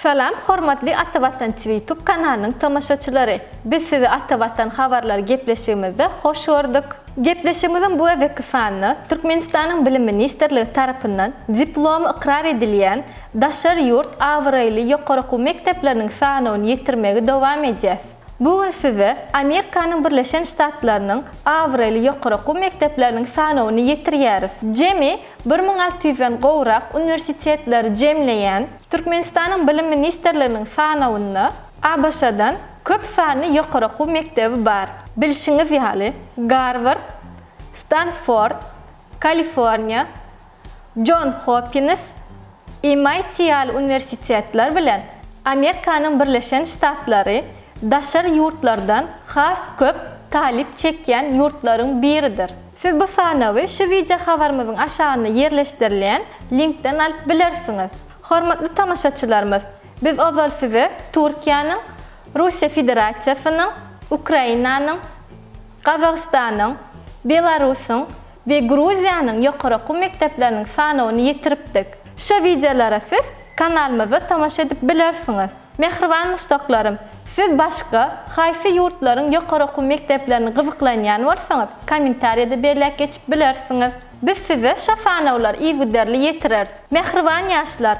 Salam hormatly Ata Watan Twitube kanalynyň tomaşaçylary! Biz sizi Ata Watan habarlary gepleşigimizde hoş gördük. Gepleşigimiziň bu gezekki sanynda Türkmenistanyň Bilim ministrligi tarapyndan diplomy ykrar edilýän daşary ýurt abraýly ýokary okuw mekdepleriniň sanawyny ýetirmegi dowam edýäs. Bu gün size Amerikanyň Birleşen Ştatlarynyň abraýly ýokary okuw mekdepleriniň sanawyny ýetirýäris. Jemi bir müň alty ýüzden gowrak uniwersitetleri jemleýän Türkmenistanyň Bilim ministrliginiň sanawynda ABŞ-dan köp sanly ýokary okuw mekdebi bar. Bilşiňiz ýaly, Garward, Stanford, Kaliforniýa, Jon Hopkins, MIT ýaly uniwersitetler bilen Amerikanyň Birleşen Ştatlary daşary ýurtlardan has köp talyp çekýän ýurtlaryň biridir. Siz bu sanawy şu wideo habarymyzyň aşagynda ýerleşdirilen linkden alyp bilersiňiz. Hormatly tomaşaçylarymyz, biz ozal size Türkiýäniň, Russiýa Federasiýasynyň, Ukrainanyň, Gazagystanyň, Belarusyň We Gruziýanyň ýokary okuw mekdepleriniň sanawyny ýetiripdik. Şu wideolara siz kanalymyzda tomaşa edip bilersiňiz. Mähriban muşdaklarym, siz başga haýsy ýurtlaryň ýokary okuw mekdeplerini gyzyklanýan bolsaňyz, kommentariýada belläp geçip bilersiňiz. Biz size şo sanawlary yzygiderli ýetireris. Mähriban ýaşlar,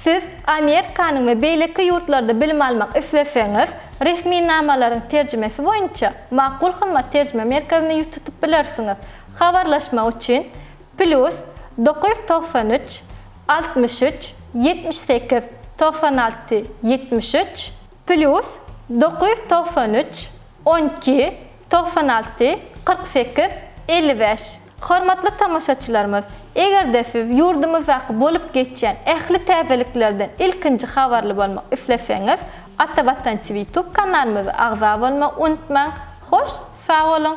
Siz Amerikanyň we beýleki ýurtlarda bilim almak isleseňiz, resminamalaryň terjimesi boýunça Makul Hymmat terjime merkezine ýüz tutup bilersiňiz. Habarlaşmak üçin, Plýus dokuz ýüz togsan üç, altmyş üç, ýetmiş sekiz, togsan alty, ýetmiş üç, Plýus dokuz ýüz togsan üç, on iki, togsan alty, kyrk sekiz, elli bäş. Hormatly tomaşaçylarymyz, eger-de siz ýurdumyzdaky bolup geçýän ähli täzeliklerden ilkinji habarly bolmak isleseňiz, Ata Watan TV YouTube kanalymyza agza bolmagy unutmaň! Hoş sag boluň!